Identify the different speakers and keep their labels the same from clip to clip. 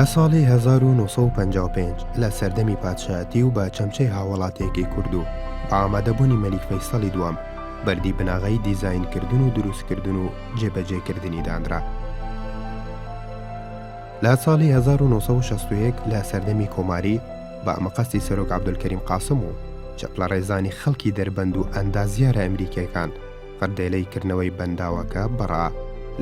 Speaker 1: لە ساڵی 1955 لە سەردەمی پادشایەتی و بە چەمچەی هاوڵاتیەکی کوردو بە ئامادەبوونی مەلیک فەیسەڵی دووەم بەردی بناغەی دیزاینکردن و دروستکردن و جێبەجێکردنی دانرا. لە ساڵی 1961 لە سەردەمی کۆماری، بە مەقەستی سەرۆک عەبدولکەریم قاسم و چەپڵەڕێزانی خەڵکی دەربەند و ئەندازیارە ئەمریکییەکان، فڕدێلەی کردنەوەی بەنداوەکە بڕا.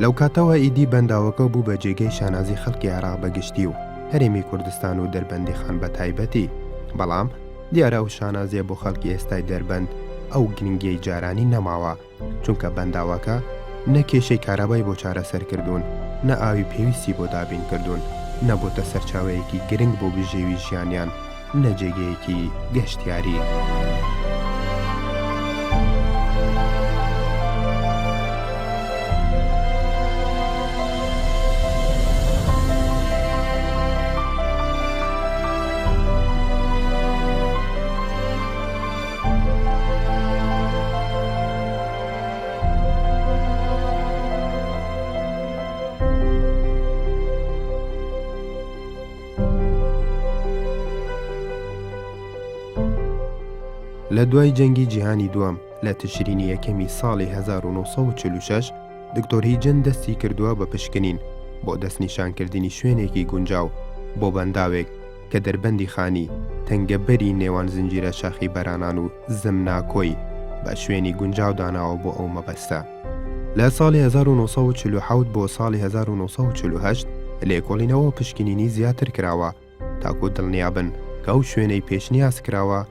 Speaker 1: لەو کاتەوە ئیدی بەنداوەکە بوو بە جێگەی شانازی خەڵکی عێراق بە گشتی و هەرێمی کوردستان و دەربەندیخان بە تایبەتی، بەڵام دیارە ئەو شانازییە بۆ خەڵکی ئێستای دەربەند ئەو گرنگییەی جارانی نەماوە. چونکە بەنداوەکە نە کێشەی کارابای بۆ چارەسەر کردوون، نە ئاوی پێویستی بۆ دابین کردوون، نەبۆتە سەرچاوەیەکی گرنگ بۆ بژێوی ژیانیان، نە جێگەیەکی گەشتیاری. لە دوای جەنگی جیهانی دووەم لە تشرینی یەکەمی ساڵی 1946 دکتۆری جن دەستی کردووە بە پشکنین بۆ دەستنیشانکردنی شوێنێکی گونجاو بۆ بەنداوێک کە دەربەندی خانی، تەنگەبەری نێوان زنجیرە شاخی بەرانان و زمناکۆی، بە شوێنی گونجاو داناوە بۆ ئەو مەبەستە. لە ساڵی هەزار و نۆ سەد و چل و حەوت بۆ ساڵی هەزار و نۆ سەد و چل و هەشت لێکۆڵینەوە و پشکنینی زیاتر کراوە تاکوو دڵنیا بن کە ئەو شوێنەی پێشنیاز کراوە،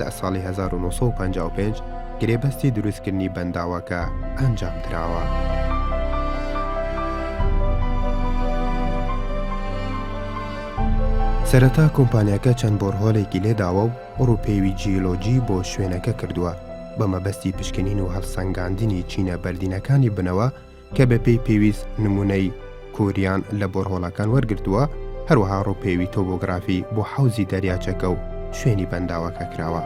Speaker 1: لە ساڵی هەزار و نۆ سەد و پەنجا و پێنج گرێبەستی دروستکردنی بەنداوەکە ئەنجامدراوە. سەرەتا کۆمپانیاکە چەند بۆرهۆلێکی لێداوە و ڕووپێوی جیۆلۆجی بۆ شوێنەکە کردووە بە مەبەستی پشکنین و هەڵسەنگاندنی چینە بەردینەکانی بنەوە، کە بەپێی پێویست نموونەی کوریان لە بۆرهۆڵەکان وەرگرتووە، هەروەها ڕووپێوی تۆبۆگرافی بۆ حەوزی دەریاچەکە و شوێنی بەنداوەکە کراوە.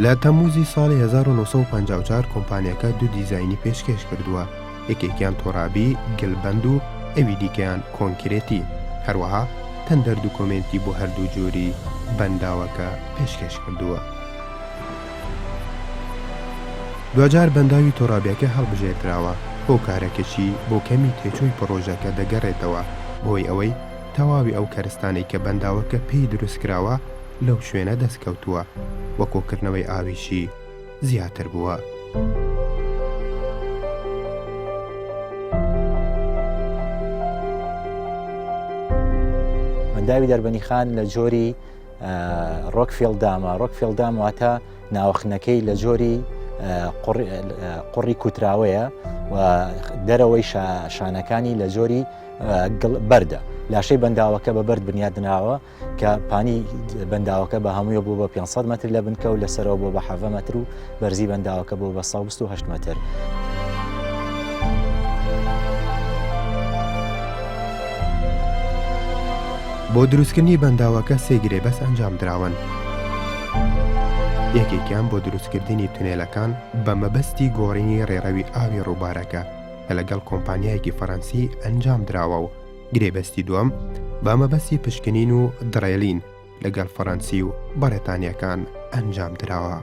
Speaker 1: لە تەمووزی ساڵی 1954 کۆمپانیاکە دوو دیزاینی پێشکێش کردووە یەکێکیان تۆرابی گلبەند و ئەوی دیکەیان کۆنکرێتی هەروەها تەندەر دوکۆمێنتی بۆ هەردوو جۆری بەنداوەکە پێشکێش کردووە. دواجار بەنداوی تۆرابیەکە هەڵبژێردراوە، هۆکارەکەشی بۆ کەمی تێچووی پڕۆژەکە دەگەڕێتەوە بۆی ئەوەی تەواوی ئەو کەرستانەی کە بەنداوەکە پێی دروستکراوە، لەو شوێنە دەستکەوتووە و کۆکردنەوەی ئاویشی زیاتر بووە.
Speaker 2: بەنداوی دەربەنیخان لە جۆری ڕۆکفیل دامە ڕۆکفیل دام واتە ناوخنەکەی لە جۆری قڕی کوتراوەیە و دەرەوەی شانەکانی لە جۆری بەردە لاشەی بەنداوەکە بە بەرد بنیادناوە کە پانی بەنداوەکە بە هەموویە بوو بە 500 متر لە بنکە و لەسەرەوە بۆ بە حەڤە مەتر و بەرزی بەنداوەکە بۆ بە 1970 متر.
Speaker 1: بۆ دروستکردنی بەنداوەکە سێ گرێ بەس ئەنجام دراون. یەکێکیان بۆ دروستکردنی تونێلەکان بە مەبەستی گۆڕینی ڕێڕەوی ئاوی ڕووبارەکە کە لەگەڵ کۆمپانیایەکی فەڕەنسی ئەنجام دراوە و گرێبەستی دووەم بە مەبەستی پشکنین و دڕێلین لەگەڵ فەڕەنسی و بەڕێتانیەکان ئەنجام دراوە.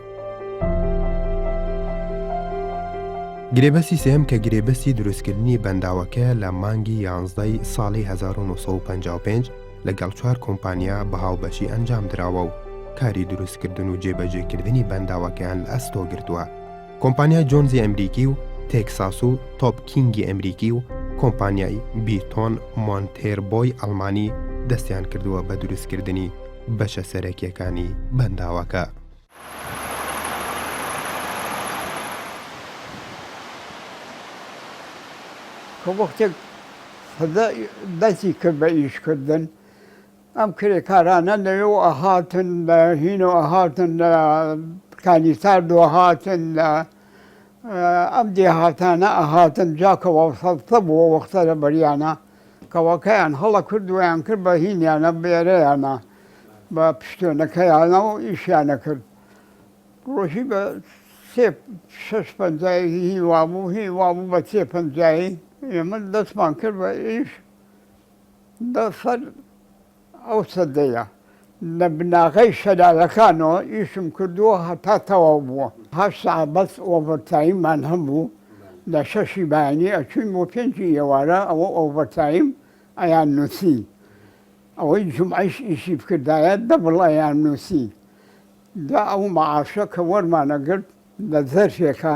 Speaker 1: گرێبەستی سێم کە گرێبەستی دروستکردنی بەنداوەکە لە مانگی یانزدەی ساڵی 1955 لەگەڵ چوار کۆمپانیا بە هاوبەشی ئەنجام دراوە و کاری دروستکردن و جێبەجێکردنی بەنداوەکەیان لە ئەستۆ گرتووە کۆمپانیای جۆنزی ئەمریکی و تێکساس و تۆپ کینگی ئەمریکی و کۆمپانیای بیتۆن مۆنتێربۆی ئەڵمانی دەستیان کردووە بە دروستکردنی بەشە سەرەکیەکانی بەنداوەکە.
Speaker 3: کە وەختێک فەزا دەستی کرد بە ئیشکردن، ئەم کرێکارانە لەوێوە ئەهاتن، لە هینۆ ئەهاتن، لە کانیساردۆ ئەهاتن، لە ئەم دێهاتانە ئەهاتن، جا کەوا سەڵتە بووە وەختە لەبەریانا، کەوا کەیان هەڵە کرد و یان کرد بە هینیانا بێرەیانا بە پشتێنەکەیانا و ئیشیانا کرد. ڕۆژی بە سێ شەش پەنجایی هی وابوو، هی وابوو بە سێ پەنجایی ئێمە دەسمان کرد بە ئیش، لە سەر ئەو سەدەیە لە بناغەی شەلالەکانەوە ئیشم کردووە هەتا تەواو بووە، هەشت سەعات بەس ئۆڤەرتایممان هەبوو، لە شەشی بەیانی ئەچووین بۆ پێنجی ئێوارە ئەوە ئۆڤەرتایم ئەیاننووسی، ئەوەی جومعەیش ئیشی بکردایە دەبڵ ئەیاننووسی، جا ئەو مەعاشە کە وەرمانەگرت لە زەرفێکا،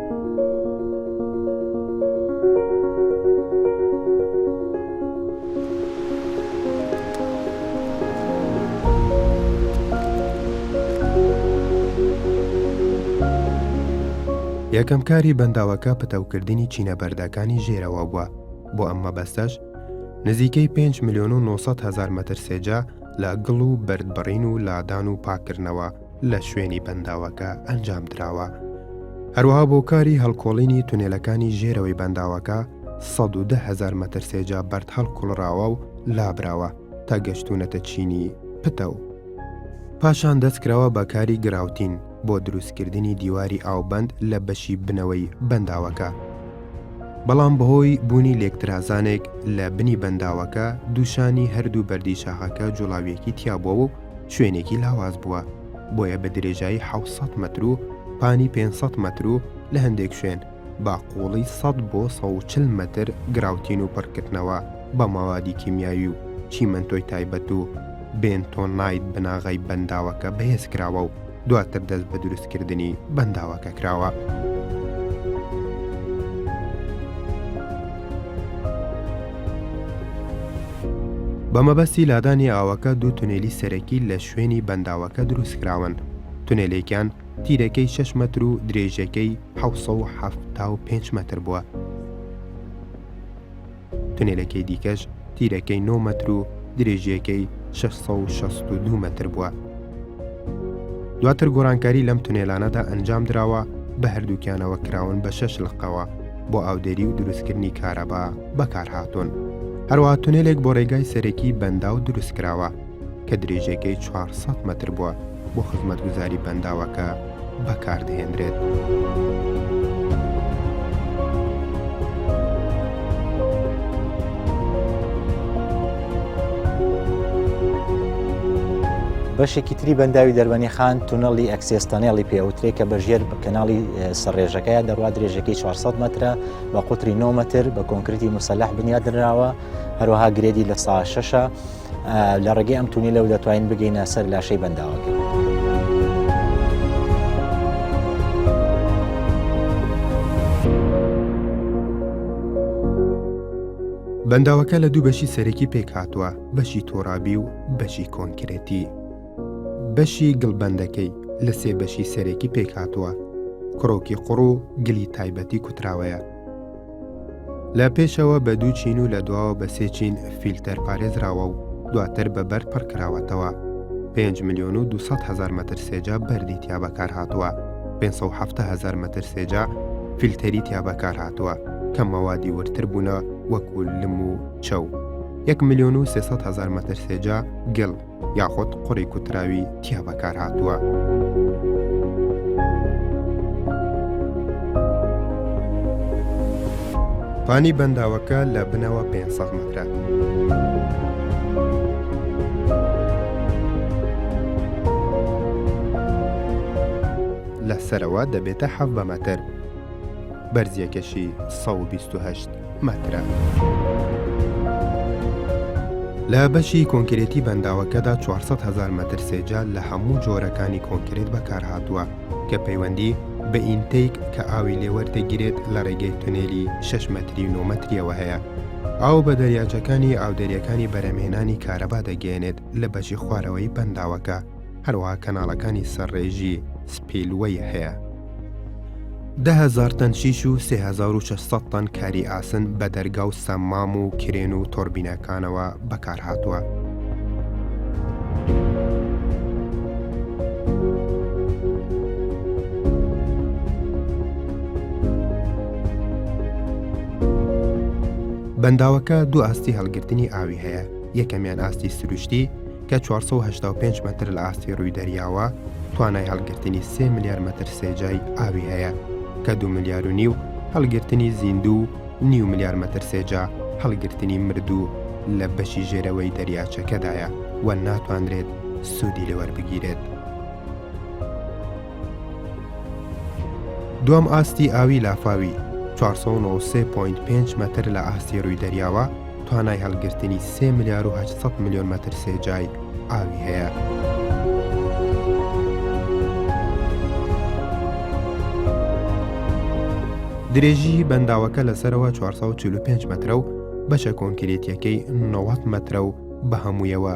Speaker 1: یەکەم کاری بەنداوەکە پتەوکردنی چینە بەردەکانی ژێرەوە بووە بۆ ئەم مەبەستەش نزیکەی 5 میلیۆن و 900 هزار مەتر سێجا لە گڵ و بەردبڕین و لادان و پاکردنەوە لە شوێنی بەنداوەکە ئەنجامدراوە، هەروەها بۆ کاری هەڵکۆڵینی تونێلەکانی ژێرەوەی بەنداوەکە سەد و دە هەزار مەتر سێجا بەرد هەڵکوڵراوە و لابراوە تا گەشتوونەتە چینی پتە و پاشان دەستکراوە بە کاری گراوتین بۆ دروستکردنی دیواری ئاوبەند لە بەشی بنەوەی بەنداوەکە. بەڵام بەهۆی بوونی لێکترازانێک لە بنی بەنداوەکە دووشانی هەردوو بەردی شاخەکە جوڵاویەکی تیابووە و شوێنێکی لاواز بووە، بۆیە بە درێژایی حەوت سەد مەتر و پانی پێنج سەد مەتر و لە هەندێک شوێن بە قووڵی سەد بۆ سەد و چل مەتر گراوتین و پڕکردنەوە بە مەوادی کیمیاوی و چیمەنتۆی تایبەت و بێنتۆنایت بناغەی بەنداوەکە بەهێزکراوە و دواتر دەست بە دروستکردنی بەنداوەکە کراوە. بە مەبەستی لادانی ئاوەکە دوو تونێلی سەرەکی لە شوێنی بەنداوەکە دروستکراون تونێلێکیان تیرەکەی 6 مەتر و درێژەکەی 1970 مەتر بووە تونێلەکەی دیکەش تیرەکەی نۆ مەتر و درێژیەکەی شەش سەد و شەست و دوو مەتر بووە. دواتر گۆڕانکاری لەم تونێلانەدا ئەنجام دراوە بە هەردووکیانەوە کراون بە شەش لقەوە بۆ ئاودێری و دروستکردنی کارەبا بەکارهاتوون. هەروەها تونێلێک بۆ ڕێگای سەرەکی بەنداو دروستکراوە کە درێژیەکەی چوار سەد مەتر بووە. بۆ خزمەتگوزاری بەنداوەکە بەکاردەهێنرێت.
Speaker 2: بەشێکی تری بەنداوی دەربەنیخان تونەڵی ئەکسێس تەنێڵی پێوترێ کە بە ژێر کەناڵی سەرڕێژەکەیان دەڕوا درێژەکەی 400 مترە بە قوتری 9 متر بە کۆنکرتی مسلح بنیادنراوە هەروەها گرێدی لە سا شەشە لە ڕێگەی ئەم تونیلەوە دەتوانین بگەینە سەر لاشەی بەنداوەکە.
Speaker 1: بەنداوەکە لە دوو بەشی سەرەکی پێک هاتووە بەشی تۆرابی و بەشی کۆنکرێتی بەشی گڵبندەکەی لە سێ بەشی سەرەکی پێک هاتووە کڕۆکی قڕ و گلی تایبەتی کوتراوەیە لە پێشەوە بە دوو چین و لە دواوە بە سێ چین فیلتەر پارێزراوە و دواتر بە بەرد پڕ کراوەتەوە. پێنج ملیۆن و دوو سەد هەزار مەتر سێجا بەردی تیا بەکارهاتووە، پێنج سەد و حەفتا هەزار مەتر سێجا فیلتەری تیا بەکارهاتووە کە مەوادی وردتر بوونە وەکوو لم و چەو، یەک ملیۆن و سێ سەد هەزار مەتر سێجا گڵ، یاخود قوڕی کوتراوی تیا بەکارهاتووە. پانی بەنداوەکە لە بنەوە 500 مەترە. لە سەرەوە دەبێتە حەڤ بە مەتر بەرزیەکەشی 128. مەترە. لە بەشی کۆنکرێتی بەنداوەکەدا چوار سەد هەزار مەتر سێجا لە هەموو جۆرەکانی کۆنکرێت بەکارهاتووە کە پەیوەندی بە ئینتەیک کە ئاوی لێ وەردەگیرێت لە ڕێگەی تونێلی شەش مەتری و نۆ مەترییەوە هەیە. ئاو بە دەریاچەکانی ئاودەریەکانی بەرهەمهێنانی کارەبا دەگەیەنێت لە بەشی خوارەوەی بەنداوەکە. هەروەها کەناڵەکانی سەرڕێژی سپیلوەی هەیە. دە هەزار تەن شیش و سێ هەزار و شەش سەد تەن کاری ئاسن بە دەرگا و سەممام و کرێن و تۆربینەکانەوە بەکارهاتووە. بەنداوەکە دوو ئاستی هەڵگرتنی ئاوی هەیە، یەکەمیان ئاستی سروشتی، کە چوار سەد و هەشتا و پێنج مەتر لە ئاستی ڕووی دەریاوە، توانای هەڵگرتنی سێ ملیار مەتر سێجای ئاوی هەیە، کە دوو ملیار و نیو هەڵگرتنی زیندوو و نیو ملیار مەتر سێجا هەڵگرتنی مردوو لە بەشی ژێرەوەی دەریاچەکەدایە و ناتوانرێت سوودی لێ وەربگیرێت. دووەم ئاستی ئاوی لافاوی، چوار سەد و نەوەد و سێ پۆینت پێنج مەتر لە ئاستی ڕووی دەریاوە، توانای هەڵگرتنی سێ ملیار و هەشت سەد ملیۆن مەتر سێجای ئاوی هەیە. درێژیی بەنداوەکە لە سەرەوە 445 مەترە و بەشە کۆنکرێتیەکەی 90 مەترە و بە هەموویەوە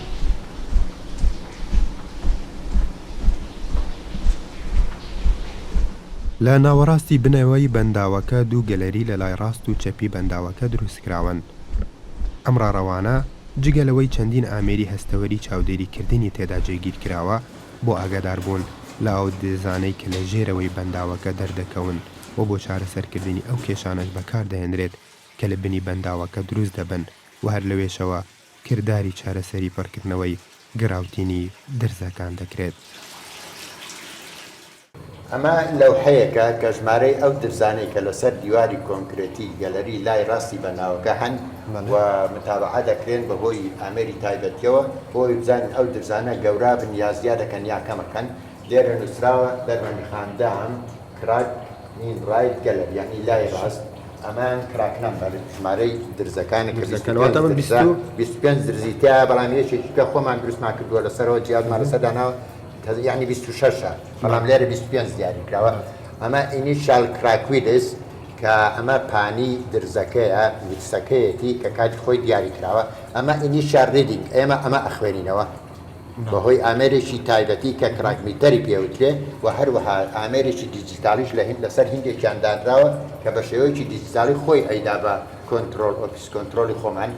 Speaker 1: لە ناوەڕاستی بنەوەی بەنداوەکە دوو گەلەری لە لای ڕاست و چەپی بەنداوەکە دروستکراون. ئەم ڕاڕەوانە جگە لەوەی چەندین ئامێری هەستەوەری چاودێریکردنی تێدا جێگیرکراوە بۆ ئاگاداربوون لە ئاودێزانەی کە لە ژێرەوەی بەنداوەکە دەردەکەون و بۆ چارەسەرکردنی ئەو کێشانەش بەکاردەهێنرێت کە لە بنی بەنداوەکە دروستدەبن و هەر لەوێشەوە کرداری چارەسەری پڕکردنەوەی گڕاوتینی درزەکان دەکرێت.
Speaker 4: ئەمە لەوحەیەکە کە ژمارەی ئەو درزانەی کە لەسەر دیواری کۆنکرێتی گەلەری لای ڕاستی بەناوەکە هەن و متابەعە دەکرێن بەهۆی ئامێری تایبەتیەوە بۆ ئەوەی بزانین ئەو درزانە گەورابن یا زیادەکەن یا کەمەکەن لێرە نوسراوە دەرمەنیخاندام کراک مین رایت گەلەر یەعنی لای ڕاست ئەمان کراک نەمبەر ژمارەی درزەکانی کە درزەکە لەواتە من بیست و- 25 درزی تیا بەڵام یەکێکی کە خۆمان دروستمان کردووە لەسەرەوە جیازمان لەسەر داناوە تە- یەعنی 26 ە بەڵام لێرە 25 دیاری کراوە ئەمە ئینیشال کراکویلس کە ئەمە پانی درزەکەیە ویلسەکەیەتی کە کاتی خۆی دیاری کراوە ئەمە ئینیشال ریدینگ ئێمە ئەمە ئەخوێنینەوە بەهۆی ئامێرێکی تایبەتی کە کراگمیتەری پێوترێ و هەروەها ئامێرێکی دیجیتاڵیش لە هیند لەسەر هیندێکیان دانراوە کە بە شێوەیەکی دیجیتاڵی خۆی ئەیدا بە کۆنترۆڵ ئۆفیس کۆنترۆڵی خۆمان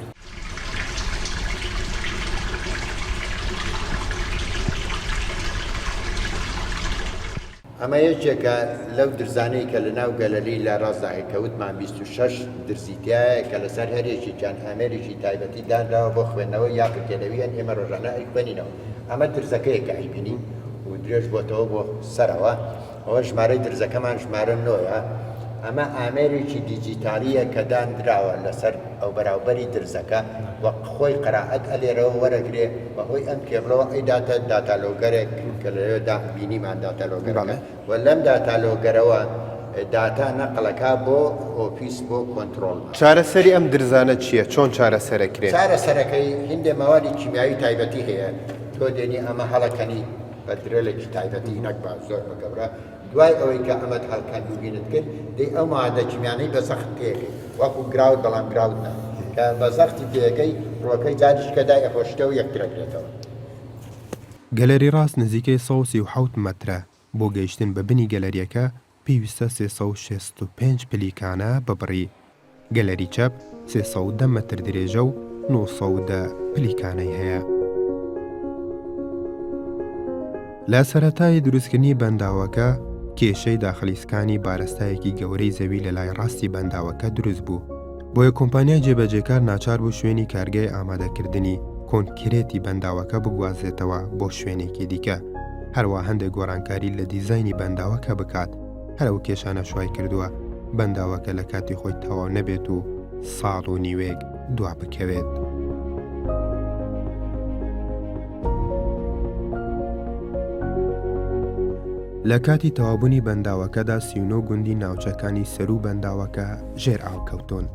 Speaker 4: ئەمە یەکێکە لەو درزانەی کە لە ناو گەلەری لە ڕاستدا هەیە کە وتمان بیست و شەش درزی تیایە کە لەسەر هەر یەکێکیان ئامێرێکی تایبەتی دانراوە بۆ خوێندنەوە یا پرکێنەوییان ئێمە ڕۆژانە ئەیخوێنینەوە ئەمە درزەکەیە کە ئەیبینین و درێژ بۆتەوە بۆ سەرەوە ئەوە ژمارەی درزەکەمان ژمارە نۆیە ئەمە ئامێرێکی دیجیتالیە کە دانراوە لەسەر ئەو بەراوبەری درزەکە وەک خۆی قەرائەت ئەلێرەوە وەرەگرێ بەهۆی ئەم کێبڵەوە ئەی داتە داتالۆگەرێک کە لەوێ دا بینیمان داتالۆگەرەکە و لەم داتالۆگەرەوە داتا نەقڵەکە بۆ ئۆفیس بۆ کۆنترۆڵ. چارەسەری ئەم
Speaker 1: درزانە چییە؟ چۆن چارەسەرەکرێ؟ چارەسەرەکەی
Speaker 4: هیندێ مەوادی کیمیاوی تایبەتی هەیە تۆ دێنی ئەمە هەڵەکەنی بە درێلێکی تایبەتی نەک بە زۆر بە گەورە. دوای ئەوەی کە ئەمەت هەر کەند و بینت کرد دەی ئەو مەوادە کیمیانەی بە زەخت تێیەکەی وەکو گراوت بەڵام گراوت نا کە بە زەختی تێیەکەی ڕووەکەی جاریش کە دای ئەپۆشیتەوە یەکتر ئەگرێتەوە.
Speaker 1: گەلەری ڕاست نزیکەی سەد و سی و حەوت مەترە، بۆ گەیشتن بە بنی گەلەریەکە پێویستە سێ سەد و شەست و پێنج پلیکانە ببڕی. گەلەری چەپ سێ سەد و دە مەتر درێژە و نۆ سەد و دە پلیکانەی هەیە. لە سەرەتای دروستکردنی بەنداوەکە، کێشەی داخلی سکانی بارستایەکی گەورەی زەوی لە لای ڕاستی بەنداوەکە دروست بوو، بۆیە کۆمپانیای جێبەجێکار ناچار بوو شوێنی کارگای ئامادەکردنی کۆنکرێتی بەنداوەکە بگوازێتەوە بۆ شوێنێکی دیکە، هەروا هەندێک گۆڕانکاری لە دیزاینی بەنداوەکە بکات. هەر ئەو کێشانەش وای کردووە بەنداوەکە لە کاتی خۆی تەواو نەبێت و ساڵ و نیوەیەک دوا بکەوێت. لە کاتی تەوابوونی بەنداوەکەدا سیونۆ گوندی ناوچەکانی سەروو بەنداوەکە ژێر ئاو کەوتۆن.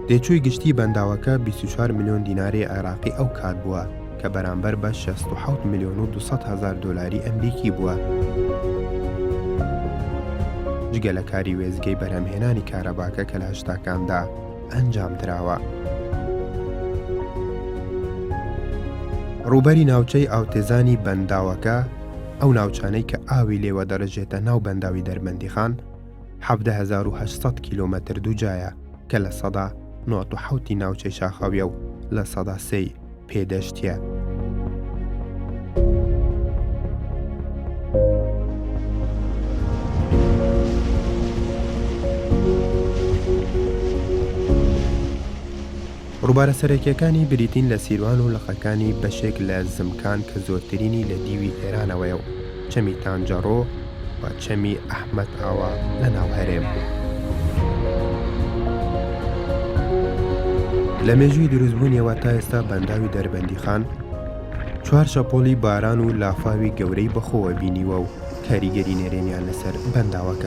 Speaker 1: تێچووی گشتی بەنداوەکە 24 ملیۆن دیناری عێراقی ئەو کات بووە، کە بەرامبەر بە شەست و حەوت ملیۆن و دوو سەد هەزار دۆلاری ئەمریکی بووە. جگە لە کاری وێستگەی بەرهەمهێنانی کارەباکە کە لە هەشتاکاندا ئەنجام دراوە. ڕووبەری ناوچەی ئاوتێزانی بەنداوەکە، ئەو ناوچانەی کە ئاوی لێوە دەڕژێتە ناو بەنداوی دەربەندیخان، حەڤدە هەزار و هەشت سەد کیلۆمەتر دووجایە کە لە سەدا نۆد و حەوتی ناوچەی شاخاویە و لە سەدا سێی پێدەشتیان. ڕووبارە سەرەکییەکانی بریتین لە سیروان و لقەکانی بەشێک لە زمکان کە زۆرترینی لە دیوی ئێرانەوەیە و، چەمی تانجەڕۆ و چەمی ئەحمەد ئاوا لە ناو هەرێم. لە مێژووی دروستبوونیەوە تا ئێستا بەنداوی دەربەندیخان چوار شەپۆڵی باران و لافاوی گەورەی بەخۆوە بینیوە و کاریگەری نەرێنیان لەسەر بەنداوەکە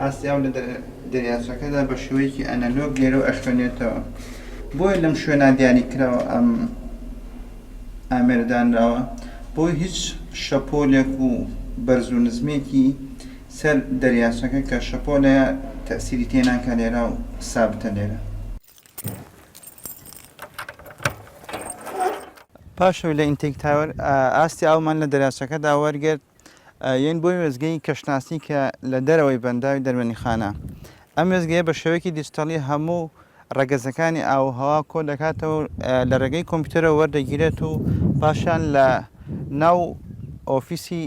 Speaker 5: ئاستی ئاو لە دەریاچەکەدا بە شێوەیەکی ئەنەلۆگ دێرە و ئەخوێنێتەوە، بۆیە لەم شوێنە دیاریکراوە ئەم ئامێرە دانراوە، بۆ هیچ شەپۆلێک و بەرز و نزمێکی سەر دەریاچەکە کە شەپۆلەیە تەئسیری تێناکا لێرە و سابتە لێرە. پاش ئەوەی لە ئینتەیک تاوەر ئاستی ئاومان لە دەریاچەکەدا وەرگرت، یەن بۆی وێستگەی کەشناسی کە لە دەرەوەی بەنداوی دەرمەنیخانە. ئەم وێستگەیە بە شێوەیەکی دیجتەڵی هەموو ڕەگەزەکانی ئاو و هەوا کۆ دەکاتەوە و لە ڕێگەی کۆمپیوتەرەوە وەردەگیرێت و پاشان لە ناو ئۆفیسی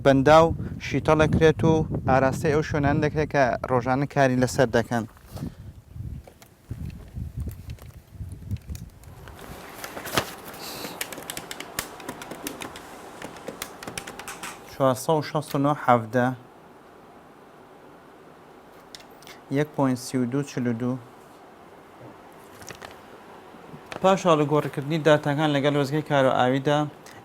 Speaker 5: بەنداو شیتەڵ دەکرێت و ئاراستەی ئەو شوێنانە دەکرێت کە ڕۆژانە کاری لەسەر دەکەن. چوار سەد و شەست و نۆ حەڤدە یەک پۆین سی و دوو چل و دوو پاش هەڵگۆڕکردنی داتاکان لەگەڵ وەزگەی کار و ئاویدا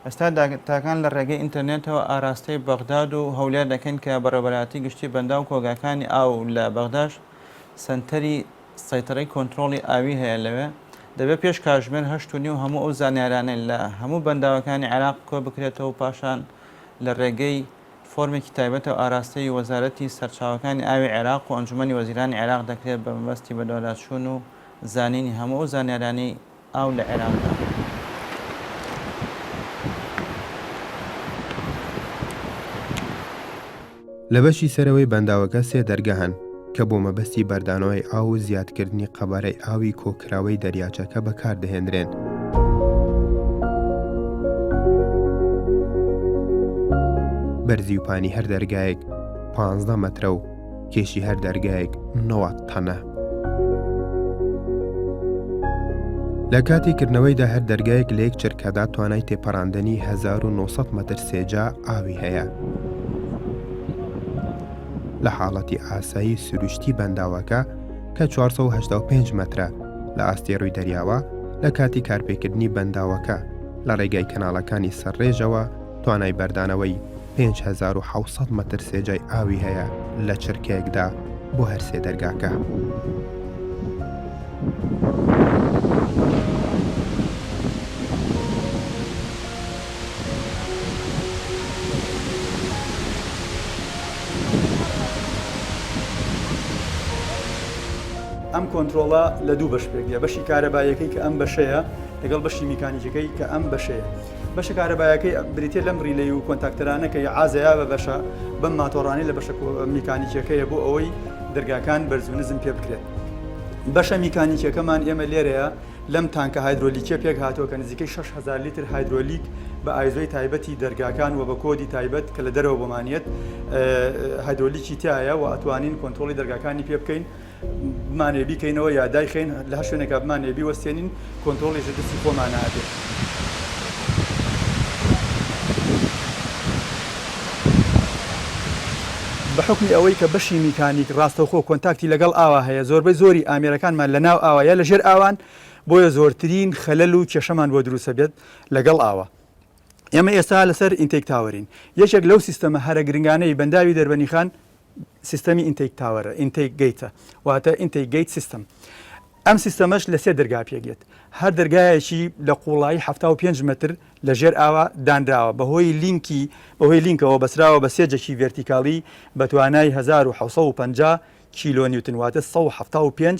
Speaker 5: ئێستا داتاکان لە ڕێگەی ئینتەرنێتەوە ئاراستەی بەغداد و هەولێر دەکەین کە بەڕێوەبەرایەتی گشتی بەنداو و کۆگاکانی ئاو لە بەغداش سەنتەری سەیتەرەی کۆنترۆڵی ئاوی هەیە لەوێ، دەبێت پێش کاتژمێر هەشت و نیو هەموو ئەو زانیارانەی لە هەموو بەنداوەکانی عێراق کۆبکرێتەوە و پاشان لە رێگەی فۆرمێکی تایبەتەوە ئاراستەی وەزارەتی سەرچاوەکانی ئاوی عێراق و ئەنجومەنی وەزیرانی عێراق دەکرێت بەمەبەستی بەدواداچوون و زانینی هەموو ئەو زانیارانەی
Speaker 1: ئاو لە عێراقدا. لە بەشی سەرەوەی بەنداوەکە سێ دەرگە هەن کە بۆ مەبەستی بەردانەوەی ئاو و زیادکردنی قەبارەی ئاوی کۆکراوەی دەریاچەکە بەکاردەهێنرێن. بەرزی و پانی هەر دەرگایەک 15 مەترە و کێشی هەر دەرگایەک نەوە تەنە. لە کاتی کردنەوەیدا هەر دەرگایەک لە یەک چرکەدا توانای تێپەڕاندنی 1900 مەتر سێجا ئاوی هەیە. لە حاڵەتی ئاسایی سروشتی بەنداوەکە کە 1970 مەترە لە ئاستی ڕووی دەریاوە لە کاتی کارپێکردنی بەنداوەکە لە ڕێگای کەناڵەکانی سەرڕێژەوە توانای بەردانەوەی پێنج هەزار و حەوت سەد مەتر سێجای ئاوی هەیە لە چرکەیەکدا بۆ هەر سێ دەرگاکە.
Speaker 6: ئەم کۆنترۆڵە لە دوو بەش پێکدێ، بەشی کارەباییەکەی کە ئەم بەشەیە لەگەڵ بەشی میکانیکیەکەی کە ئەم بەشەیە. بەشە کارەبایەکەی بریتیە لەم ریلەی و کۆنتاکتەرانە کە عازەیا بە بەشە بەم ماتۆڕانی لە بەشە میکانیکیەکەیە بۆ ئەوەی دەرگاکان بەرزو نزم پێ بکرێت. بەشە میکانیکیەکەمان ئێمە لێرەیە لەم تانکە هایدرۆلیکیە پێک هاتووە کە نزیکەی شەش هەزار لیتر هایدرۆلیک بە ئایزۆی تایبەتی دەرگاکان و بە کۆدی تایبەت کە لە دەرەوە بۆمان یەت هایدرۆلیکی تیایە و ئەتوانین کۆنترۆڵی دەرگاکانی پێ بکەین. بمانەوێ بیکەینەوە یا دایخەین لە هەر شوێنێکا بمانەوێ بیوەستێنین کۆنترۆڵیش لە دەستی خۆمانە ئەبێ. بە حوکمی ئەوەی کە بەشی میکانیک ڕاستەوخۆ کۆنتاکتی لەگەڵ ئاوا هەیە زۆربەی زۆری ئامێرەکانمان لە ناو ئاوا یا لە ژێر ئاوان بۆیە زۆرترین خەلەل و کێشەمان بۆ دروست ئەبێت لەگەڵ ئاوا. ئێمە ئێستا لەسەر ئینتەیک تاوەرین یەکێک لەو سیستەمە هەرە گرنگانەی بەنداوی دەربەنیخان سیستەمی ئینتەیک تاوەرە، Intake Gate، ە، واتە Intake Gate System. ئەم سیستەمەش لە سێ دەرگا پێکدێت، هەر دەرگایەکی لە قووڵایی حەفتا و پێنج مەتر لە ژێر ئاوا دانراوە، بەهۆی لینکی بەهۆی لینکەوە بەستراوە بە سێ جەکی ڤێرتیکاڵی بە توانای هەزار و حەوت سەد و پەنجا کیلۆنیوتن، واتە سەد و حەفتا و پێنج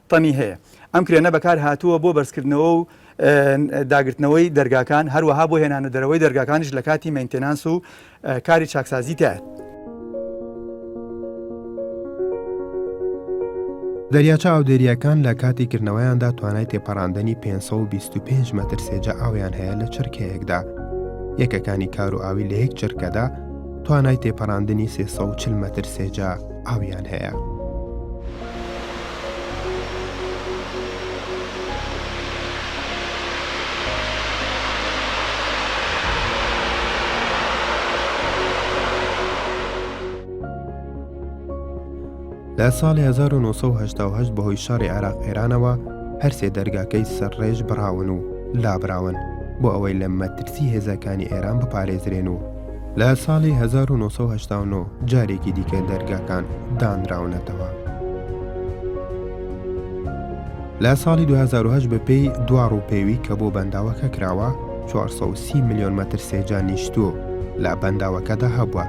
Speaker 6: تەنی هەیە. ئەم کرێنە بەکار هاتووە بۆ بەرزکردنەوە و داگرتنەوەی دەرگاکان، هەروەها بۆ هێنانە دەرەوەی دەرگاکانیش لە کاتی مەینتێنانس و کاری چاکسازی تایە.
Speaker 1: دەریاچە ئاودێرییەکان لە کاتی کردنەوەیاندا توانای تێپەڕاندنی 525 مەتر سێجا ئاویان هەیە لە چرکەیەکدا. یەکەکانی کار و ئاوی لە یەک چرکەدا توانای تێپەڕاندنی 340 مەتر سێجا ئاویان هەیە. لە ساڵی 1970 بەهۆی شاری عێراق ئێرانەوە هەرسێ دەرگاکەی سەرڕێژ بڕاون و لابراون بۆ ئەوەی لە مەترسی هێزەکانی ئێران بپارێزرێن و لە ساڵی 1989 جارێکی دیکە دەرگاکان دانراونەتەوە. لە ساڵی 2010 بەپێی دوا ڕووپێوی کە بۆ بەنداوەکە کراوە 430 میلیۆن مەتر سێجا نیشتوو لە بەنداوەکەدا هەبووە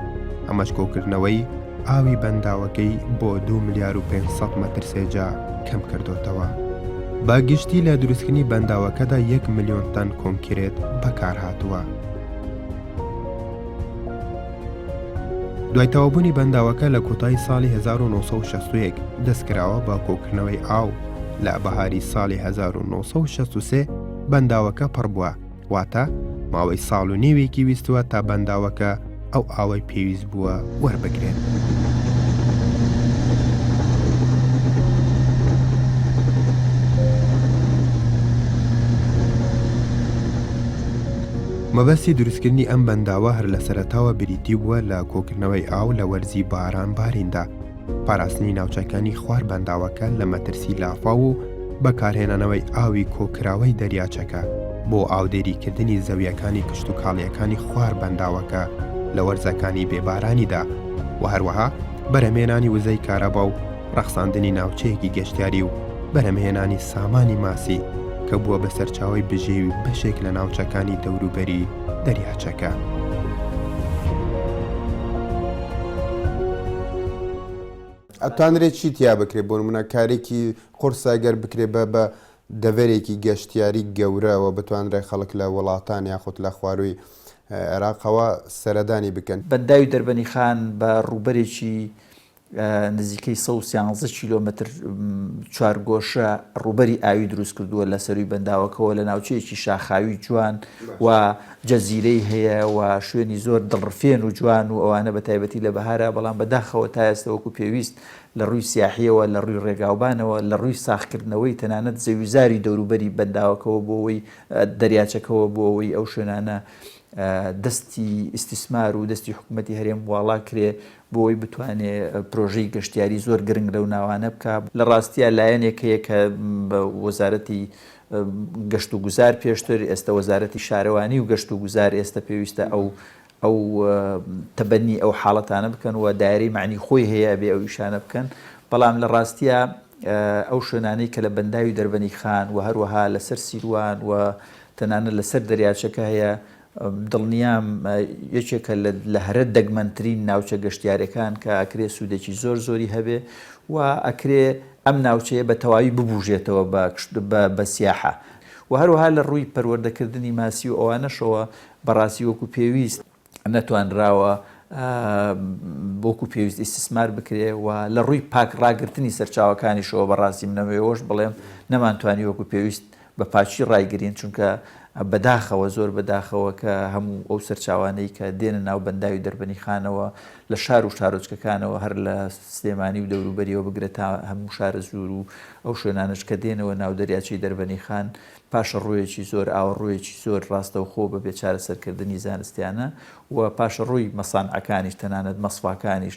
Speaker 1: ئەمەش کۆکردنەوەی ئاوی بەنداوەکەی بۆ 2 ملیار و 500 مەتر سێجا کەم کردوتەوە بە گشتی لە دروستکردنی بەنداوەکەدا 1 ملیۆن تەن کۆنکرێت بەکارهاتووە. دوای تەوابوونی بەنداوەکە لە کۆتایی ساڵی 1960 دەستکراوە بە کۆکردنەوەی ئاو لە بەهاری ساڵی 1963 بەنداوەکە پڕ بووە واتە ماوەی ساڵ و نێوێکی ویستوە تا بەنداوەکە ئەو ئاوەی پێویست بووە وەربگرێن. مەبەستی دروستکردنی ئەم بەنداوە هەر لە سەرەتاوە بریتی بووە لە کۆکردنەوەی ئاو لە وەرزی باران باریندا، پاراستنی ناوچەکانی خوار بەنداوەکە لە مەترسی لافاو و بەکارهێنانەوەی ئاوی کۆکراوەی دەریاچەکە بۆ ئاودێریکردنی زەوییەکانی کشتوکاڵییەکانی خوار بەنداوەکە لە وەرزەکانی بێبارانیدا و هەروەها بەرهەمهێنانی وزەی کارەبا و ڕەخساندنی ناوچەیەکی گەشتیاری و بەرهەمهێنانی سامانی ماسی کە بووە بە سەرچاوی بژێوی بەشێک لە ناوچەکانی دەوروبەری دەریاچەکە.
Speaker 7: ئەتوانرێت چی تیا بکرێت بۆ نمونە کارێکی قورسە گەر بکرێت بە بە دەڤەرێکی گەشتیاری گەورەوە بتوانرێ خەڵک لە وڵاتان یاخود لە خوارووی عێراقەوە سەردانی بکەن. بەنداوی دەربەنیخان
Speaker 8: بە ڕووبەرێکی نزیکەی سەد و سیانزە کیلۆمەتر چوارگۆشە ڕووبەری ئاوی دروست کردووە لە سەرووی بەنداوەکەەوە لە ناوچەیەکی شاخاوی جوان و جەزیرەی هەیە و شوێنی زۆر دڵڕفێن و جوان و ئەوانە بە تایبەتی لە بەهارە بەڵام بەداخەوە تا ئێستا وەکو پێویست لە ڕووی سیاحیەوە لە ڕووی ڕێگاوبانەوە لە ڕووی ساخکردنەوەی تەنانەت زەویزاری دەوروبەری بەنداوەکەەوە بۆەوەی دەریاچەکەەوە بۆەوەی ئەو شوێنانە دەستی ئیسیسمار و دەستی حکوومەتتی هەرێم واڵا کرێ بۆی بتوانێ پرۆژەی گەشتیاری زۆر گرنگ لەو ناوانە بکا. لە ڕاستیا لایەنێک هەیە کە بە وەزارەتی گەشت و گوزار پێشتر ئێستە وەزارەتی شارەوانی و گەشت و گوزار ئێستە پێویستە ئەو ئەو تەبەنی ئەو حاڵەتانە بکەن و دایرەی مەعنی خۆی هەیە ئەبێ ئەو ئیشانە بکەن بەڵام لە ڕاستیا ئەو شوێنانەی کە لە بەنداوی دەربەنی خان و هەروەها لەسەر سیروان و تەنانەت لەسەر دەریاچەکە هەیە دڵنیام یەکێکە لە هەرە دەگمەنترین ناوچە گەشتیارەکان کە ئەکرێ سوودێکی زۆر زۆری هەبێ و ئەکرێ ئەم ناوچەیە بە تەواوی ببوژێتەوە بە سیاحە و هەروەها لە ڕووی پەروەردەکردنی ماسی و ئەوانەشەوە بەڕاستی وەکو پێویست نەتوانراوە وەکو پێویست ئیستسمار بکرێ و لە ڕووی پاک ڕاگرتنی سەرچاوەکانیشەوە بەڕاستی منەوێ ئەوەش بڵێم نەمانتوانی وەکو پێویست بە پاکی ڕایگرین، چونکە بە داخەوە، زۆر بە داخەوە کە هەموو ئەو سەرچاوانەی کە دێنە ناو بەنداوی دەربەنیخانەوە لە شار و شارۆچکەکانەوە هەر لە سلێمانی و دەوروبەریەوە بگرە تا هەموو شارەزوور و ئەو شوێنانەش کە دێنەوە ناو دەریاچەی دەربەنیخان پاشەڕۆیەکی زۆر ئاوەڕۆیەکی زۆر ڕاستەوخۆ بە بێ چارەسەرکردنی زانستیانە و پاشەڕۆی مەسانعەکانیش تەنانەت مەسفاکانیش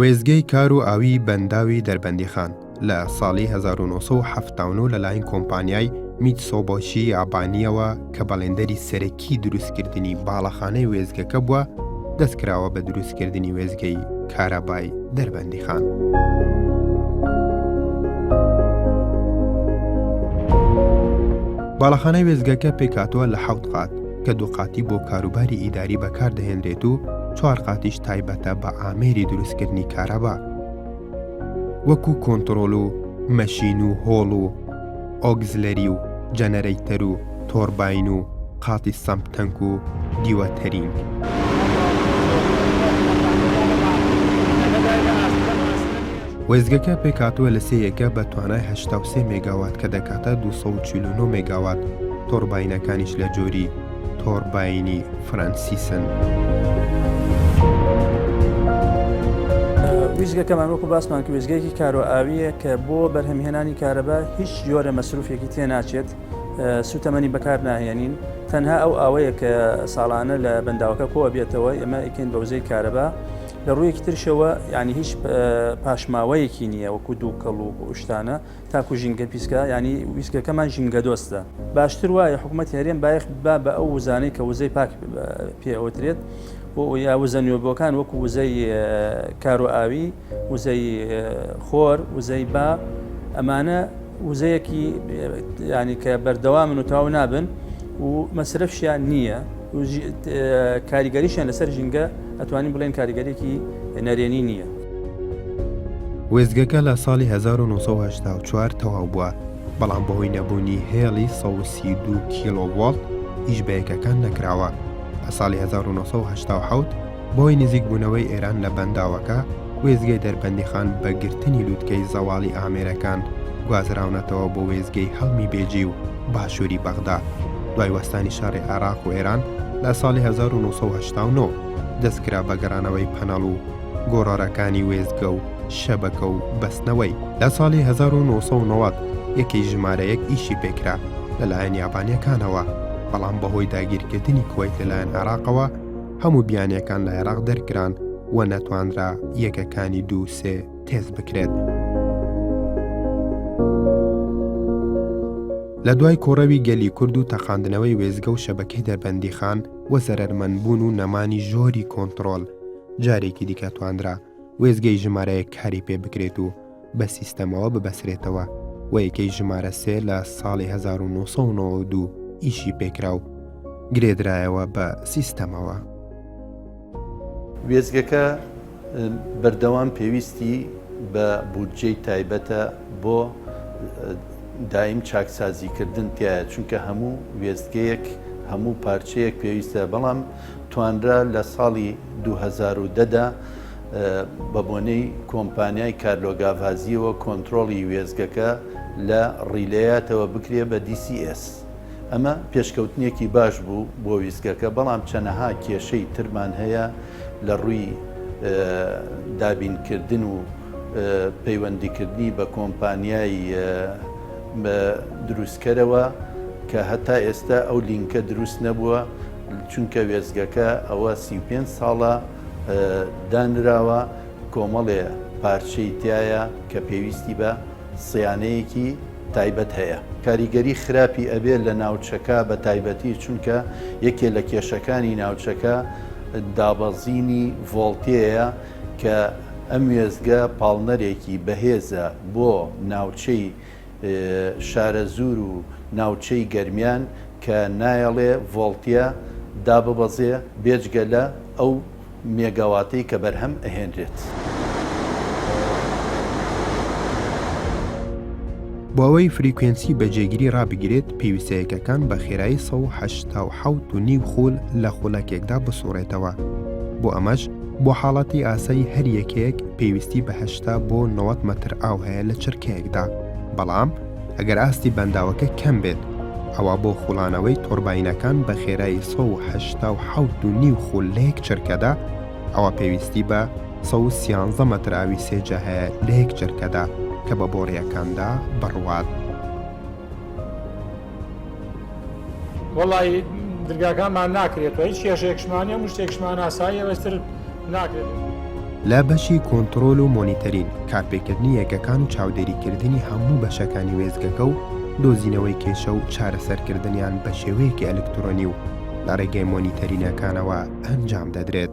Speaker 1: وێستگەی کار و ئاویی بەنداوی دەربەندیخان لە ساڵی هەزار و نۆ سەد و حەفتا و نۆ لەلایەن کۆمپانیای میتسۆبۆشی یابانییەوە کە بەڵێندەری سەرەکیی دروستکردنی باڵەخانەی وێستگەکە بووە، دەست کراوە بە دروستکردنی وێستگەی کارەبای دەربەندیخان. باڵەخانەی وێستگەکە پێکهاتووە لە حەوت قات. کە دوو قاتی بۆ کاروباری ئیداری بەکاردەهێنرێت و چوار قاتیش تایبەتە بە ئامێری دروستکردنی کارەبا وەکو کۆنتترۆل و مەشین و هۆڵ و ئۆگزلەری و جەنەرەیتەر و تۆربین و قاتی سەمپ تەنک و دیوە تەرینگ. وێزگەکە پێکاتوە لە سێ یەکە بە توانای 83 مێگاوات کە دەکاتە 249 مێگاوات، تۆڕباینەکانیش لە جۆری تۆڕباینی فرەنسیسن.
Speaker 9: وێستگەکەمان وەکو باسمان کە وێستگەیەکی کارۆ ئاوییە کە بۆ بەرهەمهێنانی کارەبا هیچ جۆرە مەسروفێکی تێ ناچێت سوتەمەنی بەکار ناهێنین تەنها ئەو ئاوەیە کە ساڵانە لە بەنداوەکە کۆ بێتەوە ئێمە ئیکەین بەوزەی کارەبا لە ڕوویەکی ترشەوە ینی هیچ پاشماوەیەکی نییە وەکو دوو کەڵ و شتانە تاکو ژینگە پیسکە یانی ویسکەکەمان ژینگە دۆستە باشتر وایە حکوومەتی هەرێم بایەخ با بە ئەو وزانەی کە وزەی پاک پێ ئەوترێت بۆ یا وزە نوێبووەکان وەکو وزەی کارو ئاوی وزەی خۆر وزەی با ئەمانە وزەیەکی ینی کە بەردەوا من و تاو نابن و مەسرفشیان نییە کاریگەریشیان لەسەر ژینگە ئەتوانین بڵێن کاریگەرێکی نەرێنی نییە. وێستگەکە
Speaker 1: لە ساڵی 1984 تەواو بووە، بەڵام بەهۆی نەبوونی هێڵی 132 کیلۆڤۆڵت ئیش بە یەکەکان نەکراوە. لە ساڵی 1970 بەهۆی نزیکبوونەوەی ئێران لە بەنداوەکە، وێستگەی دەربەندیخان بە گرتنی لووتکەی زەواڵی ئامێرەکان گوازراونەتەوە بۆ وێستگەی هەڵمی بێجی و باشووری بەغدا. دوای وەستانی شەڕی عێراق و ئێران لە ساڵی 1989، دەستکرا بە گەڕانەوەی پەنەڵ و گۆڕەرەکانی وێستگە و شەبەکە و بەستنەوەی. لە ساڵی هەزار و نۆ سەد و نەوەد یەکەی ژمارە یەک ئیشی پێکرا لەلایەن یابانیەکانەوە، بەڵام بەهۆی داگیرکردنی کوەیت لەلایەن عێراقەوە هەموو بیانیەکان لە عێراق دەرکران و نەتوانرا یەکەکانی دوو سێ تێست بکرێت. لە دوای کۆڕەوی گەلی کورد و تەقاندنەوەی وێستگە و شەبەکەی دەربەندیخان و زەرەرمەندبوون و نەمانی ژۆری کۆنتڕۆل، جارێکی دیکە تواندرا وێزگەی ژمارەیە کاری پێ بکرێت و بە سیستەمەوە ببەسرێتەوە و یەکەی ژمارە سێ لە ساڵی 1992 ئیشی پێکرا و گرێدرایەوە بە سیستەمەوە.
Speaker 10: وێزگەکە بەردەوام پێویستی بە بودجەی تایبەتە بۆ دایم چاکسازیکردن تایە چونکە هەموو وێستگەیەک هەموو پارچەیەک پێویستە بەڵام توانرا لە ساڵی دوو هەزار و دە دا بە بۆنەی کۆمپانیای کارلۆگاڤازییەوە کۆنترۆڵی وێستگەکە لە ڕیلەیاتەوە بکرێ بە DCS. ئەمە پێشکەوتنێکی باش بوو بۆ ویستگەکە، بەڵام چەنەها کێشەی ترمان هەیە لە ڕووی دابینکردن و پەیوەندیکردنی بە کۆمپانیای دروستکەرەوە کە هەتا ئێستا ئەو لینکە دروست نەبووە. چونکە وێستگەکە ئەوە سی و پێنج ساڵە دانراوە، کۆمەڵێ پارچەی تیایە کە پێویستی بە صیانەیەکی تایبەت هەیە. کاریگەری خراپی ئەبێ لە ناوچەکە بە تایبەتی، چونکە یەکێ لە کێشەکانی ناوچەکە دابەزینی ڤۆڵتێیە کە ئەم وێستگە پاڵنەرێکی بەهێزە بۆ ناوچەی شارەزوور و ناوچەی گەرمیان کە نایەڵێ ڤۆڵتیە داببەزێ بێجگە لە ئەو مێگاواتەی کە بەرهەم ئەهێنرێت.
Speaker 1: بۆ ئەوەی فریکوێنسی بە جێگیری ڕابگیرێت پێویستە یەکەکان بە خێرایی سەد و حەشتا و حەوت و نیو خول لە خولەکێکدا بسوڕێتەوە بۆ ئەمەش، بۆ حاڵەتی ئاسایی هەر یەکێک پێویستی بە هەشتا بۆ 90 مەتر ئاو هەیە لە چرکەیەکدا، بەڵام ئەگەر ئاستی بەنداوەکە کەم بێت، ئەوا بۆ خوڵانەوەی تۆرباینەکان بە خێرایی 187 و نیو خول لە یەک چرکەدا، ئەوا پێویستی بە 113 مەتر ئاوی سێجا هەیە لە یەک چرکەدا کە بە بۆڕییەکاندا بڕوات.
Speaker 11: وەڵایی درگاکانمان ناکرێتەوە هیچ کێشەیەکشمانە هەموو شتێکشمان ئاساییە بەستر ناکرێت. لە
Speaker 1: بەشی کۆنتڕۆل و مۆنیتەرین، کارپێکردنی یەکەکان و چاودێریکردنی هەموو بەشەکانی وێستگەکە و دۆزینەوەی کێشە و چارەسەرکردنیان بە شێوەیەکی ئەلکترۆنی و لە ڕێگەی مۆنیتەرینەکانەوە ئەنجام دەدرێت.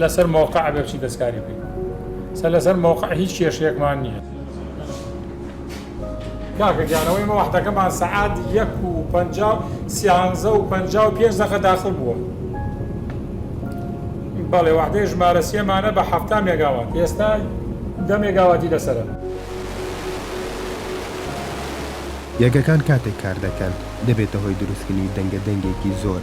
Speaker 11: لەسەر مەوقع ئەبێ بچی دەستکاری بکەین سەر لەسەر مەوقع هیچ کێشەیەکمان نییە کاکە گیانەوەی مە وەحدەکەمان سەعات یەک و پە سیانزە و پە و پێنج دەقە داخل بووە بەڵێ وەحدەی ژمارە سێمانە بە حەفتا مێگاوات ئێستا دە مێگاواتی لەسرە
Speaker 1: یەکەکان کاتێک کار دەکەن دەبێتە هۆی دروستکردنی دەنگە دەنگێکی زۆر